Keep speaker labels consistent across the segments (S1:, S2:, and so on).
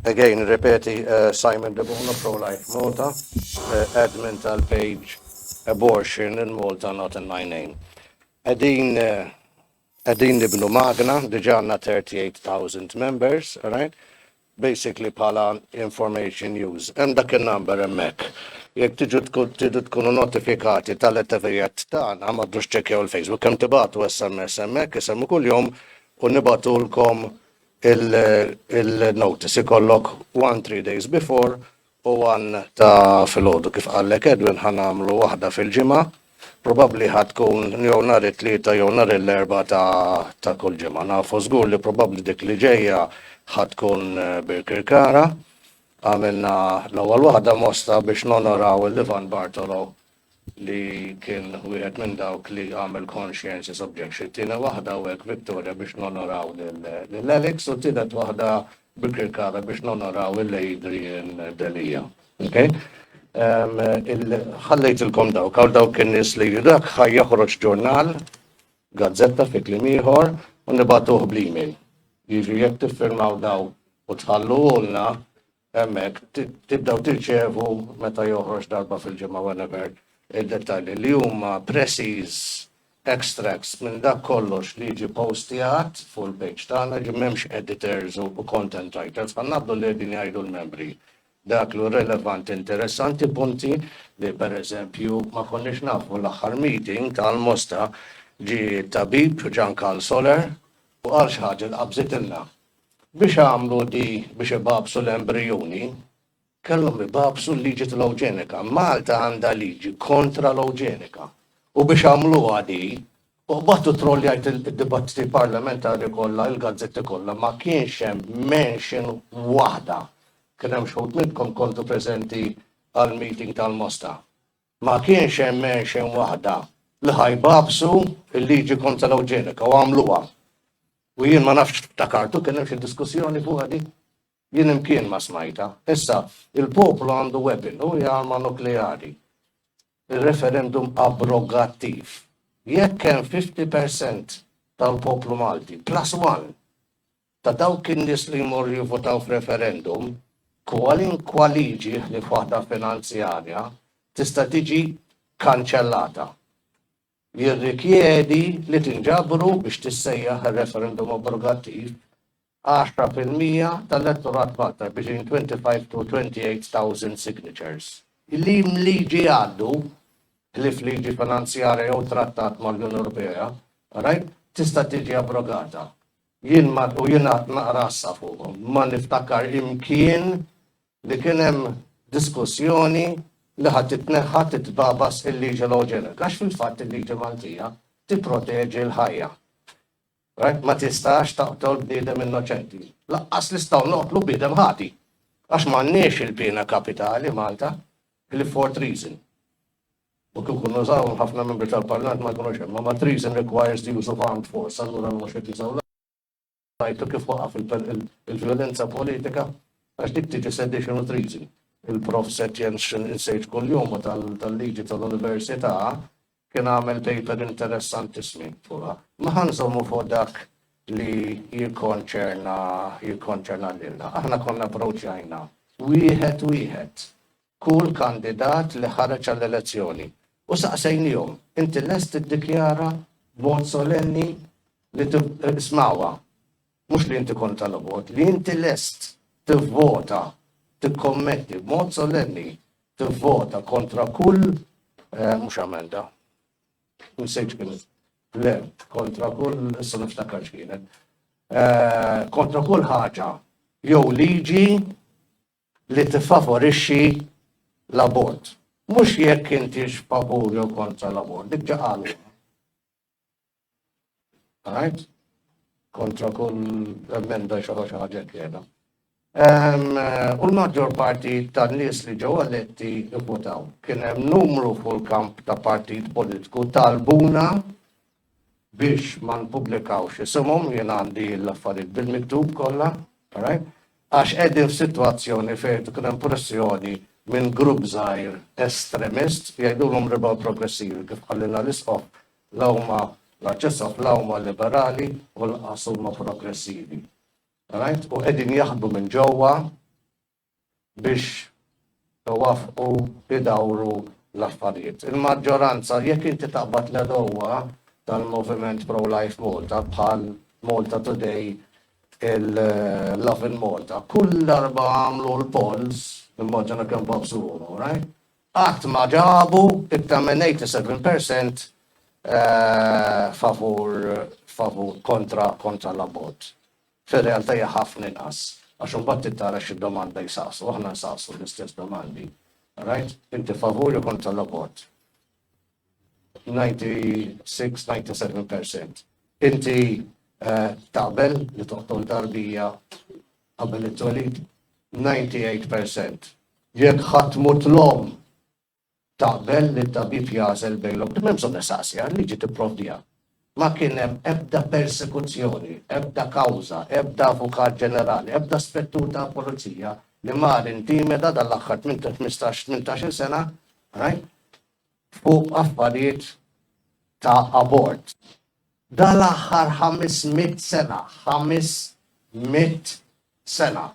S1: Again, ripeti Simon De Bono, Pro-Life Malta, admin tal-page Abortion in Malta Not in My Name. Qegħdin qegħdin nibnu magna, diġà għandna 38,000 members, all right? Basically bħala information use. Hemm dak in-number hemmhekk. Jekk tiġu tidu tkunu notifikati tal-attivitajiet tagħna, ma tdux tċekkjaw il-Facebook, hemm tibagħtu SMS hemmhekk, isemmu kuljum u nibagħtulkom il-notice ikollok one three days before u one ta' filgħodu kif qallek Edwin ħa nagħmlu waħda fil-ġimgħa. Probabbli ħa tkun jew nhar it-Tlieta jew nhar l-Erbgħa ta' ta' kull ġimgħa. Nafu żgur li probabbli dik li ġejja ħa tkun Birkirkara. Għamilna l-ewwel waħda mosta biex nonoraw il-Ivan Bartolo li kien wieħed minn dawk li għamel conscientious objection. It-tieni waħda u hekk vittorja biex nonoraw lil Alex u t-tielet waħda bi kirkara biex nonoraw lil Adrian Delia. Okay? Ħallejtilkom dawk, għaw dawk in-nies li dak ħaj joħroġ ġurnal, gazzetta fi kliem ieħor u nibatuh bl-email. Jiġri jekk tiffirmaw daw u tħalluhulna, Hemmhekk tibdew tirċevu meta joħroġ darba fil-ġimgħa, whenever, id-dettalji li huma precies extracts minn dak kollox li jiġi postjat fuq il-page tagħna, jiġifieri m'hemmx editors u content writers, bħal nagħmlu li qegħdin jgħidu l-membri. Dak li hu relevanti, interessanti, punti li pereżempju ma konniex nafu l-aħħar meeting ta' Almosta ġie t-tabib Jean Carl Soler u qal xi ħaġa li qabżitilna. Biex għamlu di biex ibagħbsu l-embrijuni, kellhom ibagħbsu l-liġi tal-ewġenika. Malta għandha liġi kontra l-ewġenika. U biex għamluha di, u qbadtu trolljajt id-dibattiti parlamentari kollha, il-gazzetti kollha, ma kienx hemm mention waħda. Kien hemm xħud minnkom kontu preżenti għall-meeting tal-Mosta. Ma kienx hemm għenxen waħda li ħa jbagħbsu l-liġi kontra l-ewġenika u għamluha. U jien ma nafx ftakartu kien hemm xi diskussjoni fuqha di? Jien imkien ma smajtha. Issa, il-poplu għandu weapon u hija arma nukleari. Ir-referendum abrogattiv. Jekk hemm 50% tal-poplu Malti, plus one, Ta' dawk in-nies li jmorru jivvutaw f'referendum, kwalinkwa liġi ħlief waħda finanzjarja tista' tiġi kkanċellata. Jirrikjedi li tinġabru biex tissejjaħ ir-referendum obbligattiv għaxra fil-mija tal-elettorat Malta between 25 to 28 thousand signatures. Kliem liġi għandu, ħlief liġi finanzjarja jew trattat mal-Unjoni Ewropea, right, tista' tiġi abrogata. Jien ma, u jiena qed naqra issa fuqhom, ma niftakar imkien li kien hemm diskussjoni li ħa titneħħa, titbagħbas il-liġi l-eugenika, għax fil-fatt il-liġi Maltija tipproteġi l-ħajja. Right? Ma tistax taqtol bniedem innoċenti. Laqqas nistgħu noqtlu bniedem ħati. Għax m'għandniex il-piena kapitali Malta, Clifford Reason. U kieku nużawhom ħafna membri tal-Parlament ma jkunux hemm. Imma treason requires the use of armed force, allura mhux qed jużaw l-ajru u kif waqaf il-vjolenza politika għax dik tiġi sedition u treason. Il-Prof Setjen x'in insejt kuljumu tal-liġi tal-Università kien għamel paper interessantissmi fuqha. Imma ħa nżommu fuq dak li jikkonċerna jikkonċerna lilna. Aħna konna approċjajna wieħed wieħed kull kandidat li ħareġ għall-elezzjoni u saqsejniehom, Inti lest tiddikjara b'mod solenni li tiv-, smgħuha, mhux li inti kontra l-abort, li inti lest tivvota, tikkommetti b'mod solenni tivvota kontra kull, mhux emenda, insejt x'kienet, le, kontra kull, issa niftakar x'kienet, kontra kull ħaġa jew liġi li tiffavorixxi l-abort. Mhux jekk intix favur jew kontra l-abort, dik ġa qalwa. Right? Kontra kull emenda xi ħaġa kena. U l-maġġor parti ta' nies li ġew eletti votaw. Kien hemm numru fuq il-kamp ta' partit politiku talbuna biex ma npubblikawx isimhom, jien għandi l-affarijiet bil-miktub kollha, alright, għax qegħdin f'sitwazzjoni fejn qed ikun hemm pressjoni minn grupp żgħir estremist, jgħidulhom Liberal Progressivi kif qalilna l-Isqof, la huma l-Arċisqof la huma liberali u lanqas huma progressivi. Alright? U qegħdin jaħdmu minn ġewwa biex iwaffqu idawru l-affarijiet. Il-maġġoranza, jekk inti taqbad l-għedewwa tal-moviment pro-life Malta bħal Malta Today, il-Lovin Malta, kull darba għamlu l-polls, immaġina kemm bażżuhom, alright? Qatt ma ġabu iktar minn 87% favur favur kontra kontra l-abbozz. Fir-realtà hija ħafna inqas, għax imbagħad trid tara x'domanda jsaqsu, aħna nsaqsu l-istess domandi. Rajt? Inti favur jew kontra l-abort? 96, 97 percent. Inti eh, taqbel li toqtol tarbija qabel it-twelid? 98 percent. Jekk ħadd mut l-om Taqbel li t-tabib jagħżel bejn l-opti. M'hemm bżonn nistaqsiha, l-liġi tipprovdiha. Ma kien hemm ebda persekuzzjoni, ebda kawża, ebda avukat ġenerali, ebda spettur tal-pulizija li mar intimeda dan l-aħħar ħmistax, tmintax-il sena fuq affarijiet ta' abort. Dal-aħħar ħames mitt sena, ħames mitt sena,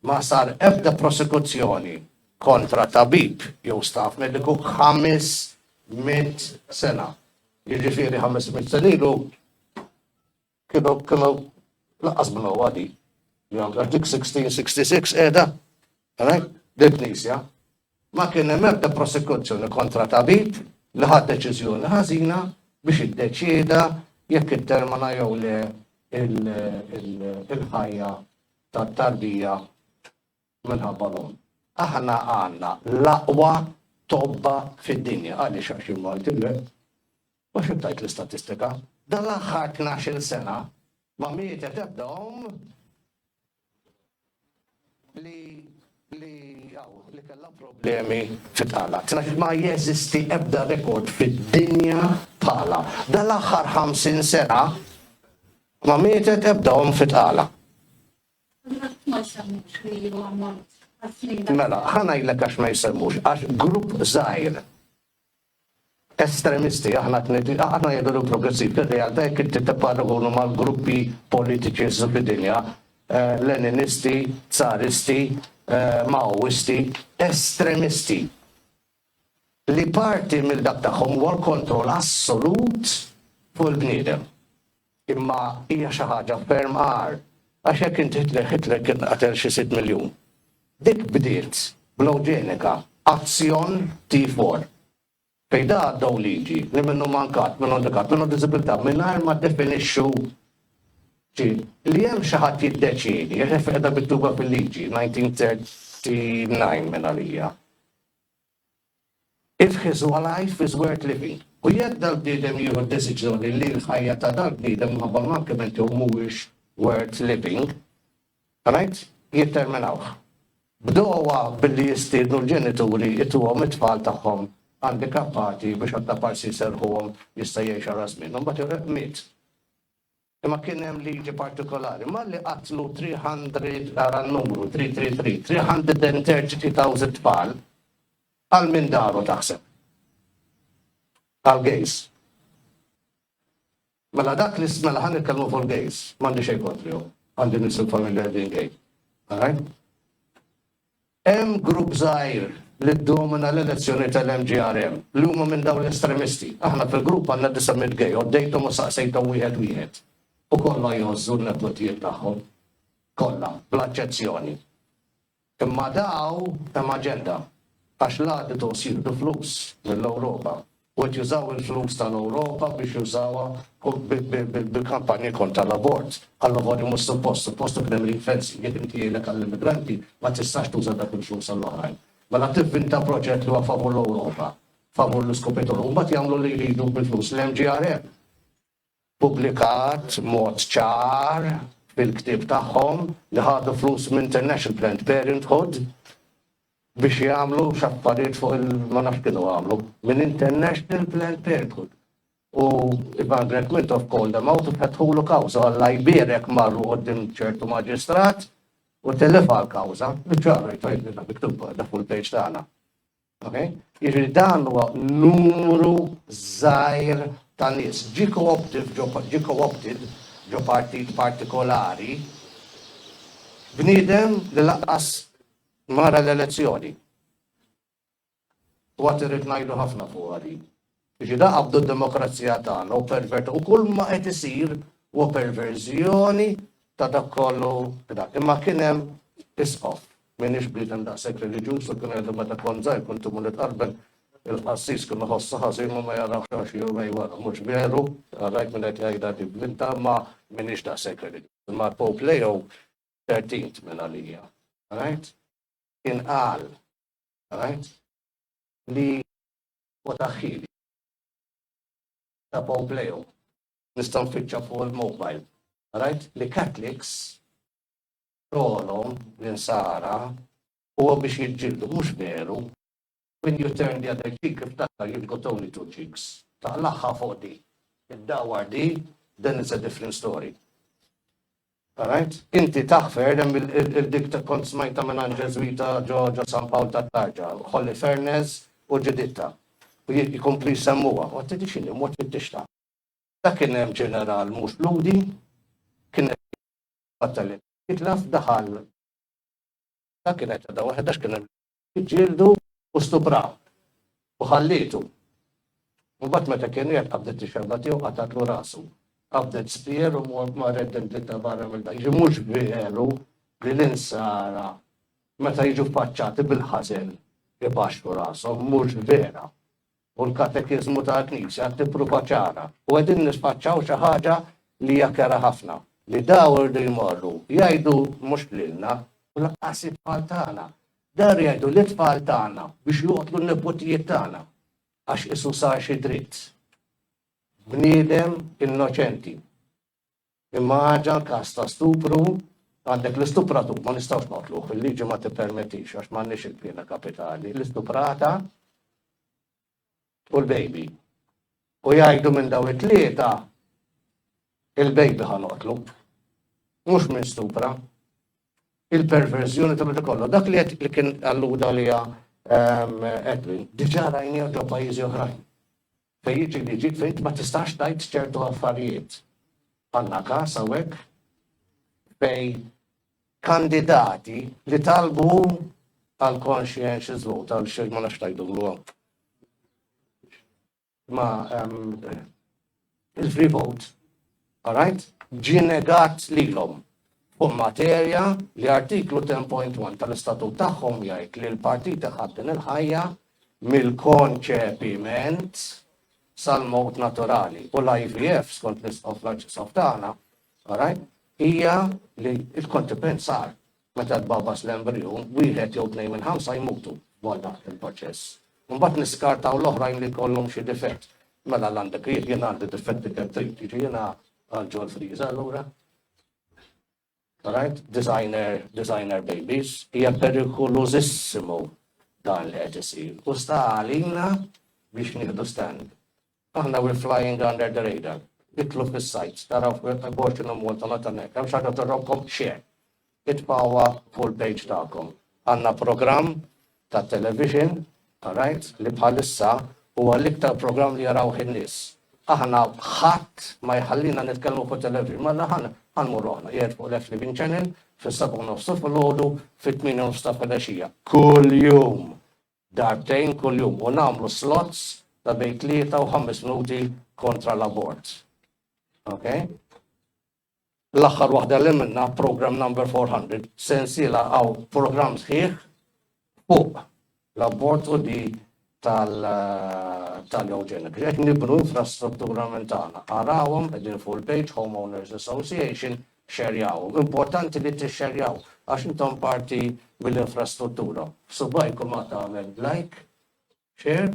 S1: ma sar ebda prosekuzzjoni kontra tabib jew staff mediku ħames mitt sena. Jiġifieri ħames mitt sena ilu kienu kienu laqqas bnu għadi. Għax dik 1666 qiegħda, għalhekk, dil-knisja. Ma kien hemm ebda prosekuzzjoni kontra tabib li ħa deċiżjoni ħażina biex iddeċieda jekk ittermina jew le il-ħajja tat-tarbija minħabba l-omm. Aħna għandna l-aqwa tobba fid-dinja għaliex għax jien Malti le. U xi tajt l-istatistika? Dan l-aħħar 12-il sena ma mietet ebda omm li li kellha problemi fit-tala. Ma jeżisti ebda rekord fid-dinja tala. Dal-aħħar 50 sena ma mietet ebda omm fit-tala. Mela, ħa ngħidlek għax ma jsemmux, għax grupp żgħir estremisti. Aħna aħna jgħidu li progressiv, fir-realtà jekk inti tipparagonu mal-gruppi politiċi jsiru fid-dinja, eh, Leninisti, Tsaristi, eh, Maoisti, estremisti. Li parti mill-dak tagħhom huwa l-kontroll assolut fuq il-bniedem. Imma hija xi ħaġa ferm agħar, għax jekk int Hitler, Hitler kien qatel xi sitt miljun. Dik bdiet bl-eugenika, azzjon T4, fejn da għaddew liġi li minnu mankat, minn handikat, minnu diżibilità, mingħajr ma ddefinixxu xi li hemm xi ħadd jiddeċiedi, għax hekk qiegħda mittuba fil-liġi, 1939 minn għalija. If his one life is worth living, u jekk dal-bniedem jieħu d-deċiżjoni li l-ħajja ta' dal-bniedem minħabba l-mankiment tiegħu mhuwiex worth living, right, jitterminawh. Bdewha billi jistiednu l-ġenituri jtuhom it-tfal tagħhom andikappati biex għaddaparsi jserrħuhom jista' jgħix ara żmien. Imbagħad ir-Req miet. Imma kien hemm liġi partikolari, malli qatlu 300, ara n-numru, 333, 333 thousand tfal, għal min daru taħseb? Għall-gays. Mela dak li mela ħa nitkellmu fuq il-gays, m'għandi xejn kontrihom, għandi nies il-familja qegħdin gay. All right? Hemm grupp żgħir li ddomina l-elezzjoni tal-MGRM li huma minn dawn l-estremisti. Aħna fil-grupp għandna disa' mitt gay, għoddejthom u saqsejthom wieħed wieħed u kollha jgħożżu n-nepotijiet tagħhom. Kollha, bla eċċezzjoni. Imma dawn hemm aġenda għax l-għadu tost jieħdu flus mill-Ewropa. u qed jużaw il-flus tal-Ewropa biex jużawha bi kampanji kontra l-abort. Alla volja mhux suppost, suppost ikun hemm ring fencing, jekk inti jgħinlek għall-immigranti ma tistax tuża dak il-flus għall-oħrajn. Mela tivvinta proġett li huwa favur l-Ewropa, favur l-iskupituri u mbagħad jagħmlu li jridu bil-flus li hemm GRM. ppubblikat b'mod ċar fil-ktieb tagħhom li ħadu flus minn International Planned Parenthood biex jagħmlu x'affarijiet fuq il ma nafx kienu għamlu. Minn International Planned Parenthood. U Margaret Mintoff called them out u fetħulu kawża u Alla jbierek marru quddiem ċertu maġistrat u tellifha l-kawża. Biċ-ċar, rajt, rajt, miktub da fuq il-page tagħna. Okay? Jiġifieri dan huwa numru żgħir ta' nies. Ġie co-optive ġo, ġie co-opted ġo partit partikolari bniedem li lanqas ma ra l-elezzjoni. U għad irrid ngħidu ħafna fuqha din. Biex inaqqdu d-demokrazija tagħna u pervert u kull ma qed isir huwa perverżjoni ta' dak kollu dak. Imma kien hemm Isqof, m'iniex bniedem daqshekk reliġjuż u kien għedli meta kont żgħir kont imur nitqarbel il-qassis kien iħossha ħażin u ma jarax għal xi jumejn wara. Mhux veru, rajt min qed jgħidha di b'bintha imma m'iniex daqshekk reliġjuż. Imma l-Pope Leo xiii minn għalija, rajt, kien qal, rajt, li u ta' ħili ta' Pompleo. Nista' nfittxa fuq il-mobile. Rajt li Catholics xogħolhom l-insara huwa biex jiġġieldu, mhux veru? When you turn the other cheek iftakar you've got only two cheeks. Taqlagħha fuq di. Iddawwar di, then it's a different story. Alright? Inti tah Fernez il dik kont smajtha mingħand Ġeżwita ġo ġo San Pawl tat-Tarġa, Holifernez u ġididtha. U jkomplu jsemmuha. U tidri x'inhi, mort fid dixta. Dak kien hemm ġeneral mhux Lhudi, kien qed jitbattal li jitlef, daħal, kienet għadha waħedha għax kien hemm Ġġieldu u stuprawh, u ħallietu. Imbagħad meta kien qiegħed qabdet ix-xemgħa tiegħu qatgħatlu rasu. Qabdet spier u marret dendiltha barra minn dak. Ġi mhux veru li l-insara meta jiġu ffaċċati bil-ħażen ibaxxru rashom, mhux vera. u l-katekiżmu tal-Knisja tippruva ċara u qegħdin nisfaċċaw xi ħaġa li hija kera ħafna, li daw irdu jmorru jgħidu mhux lilna u lanqas it-tfal tagħna, daw irdu jgħidu lit-tfal tagħna biex joqtlu n-niputijiet tagħna għax qisu sar xi dritt bniedem innoċenti. Imma għaġa l-każ ta' stupru, għandek l-istupratur ma nistgħux noqtluh, il-liġi ma tippermettix għax m'għandniex il-piena kapitali, l-istuprata u l-baby. U jgħidu minn daw it-tlieta il-baby ħa noqtlu. Mhux minn stupra. Il-perverżjoni ta' meta kollu. Dak li qed li kien alluda liha Edwin, diġà rajnieh ġo pajjiżi oħrajn. Fejn jiġi li jiġi, f'int ma tistax tgħid ċertu affarijiet. Għandna każ hawnhekk fejn kandidati li talbu għal conscientious vote, għal xejn ma nafx tgħidulu hawn. Ma ehm, il-free vote Qrajt, ġie negat lilhom, fuq materja li Artiklu 10.1 tal-Istatut tagħhom jgħid li l-Partit iħadd din il-ħajja mill-konċepiment sal-mewt naturali u l-IVF, skont l-Isqof l-Arċisqof tagħna, qrajt, hija li l-konċepiment sar Meta tbagħbas l-embriju, wieħed jew tnejn minn ħamsa jmutu waqt dan il-proċess. Imbagħad niskartaw l-oħrajn li jkollhom xi difett. Mela l għandek ried, jien għandi difetti kemm trid, jiġi jiena għal John Frieza allura. Alright, designer, designer babies, hija perikolużissimu dan li qed isir. U sta għalina biex nieħdu stand. Aħna we're flying under the radar. Itlu fis-sites, taraw Abortion in Malta meta hemm hekk. Hemm xi ħaġa torrokkom? Share. Itbagħuha fuq il-page tagħkom. Għandna programm tat-television, alright, li bħalissa huwa l-iktar programm li jarawh in-nies. Aħna ħadd ma jħallina nitkellmu fuq television. Mela ħa nqanqmu ruħna. Qiegħed fuq l-F Living Channel fis-sebgħa u nofs ta' filgħodu, fit-tmienja u nofs ta' filgħaxija. Kuljum! darbtejn kuljum u nagħmlu slots ta' bejn tlieta u ħames minuti kontra l-abort. Okay? L-aħħar waħda li għamilna, program number 400, sensiela għaw program sħiħ fuq l-abort u di tal-eugenik. Ġek nibnu infrastruttura mentana. Arawhom qegħdin full page Homeowners Association Xxerjaw. Importanti li tixxerjaw għax intom parti mill-infrastruttura. B'subgħajkom għad tagħmel like, share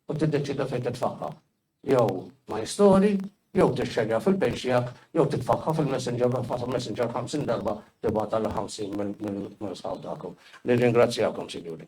S1: u tiddeċieda fejn titfagħha. Jew my story, jew tixxerja fil-page tiegħek, jew titfagħha fil-messenger u tibgħatha fil-messenger 50 darba, tibgħatha lil 50 minn sħab tagħkom. Nirringrazzjakom, sinjuri.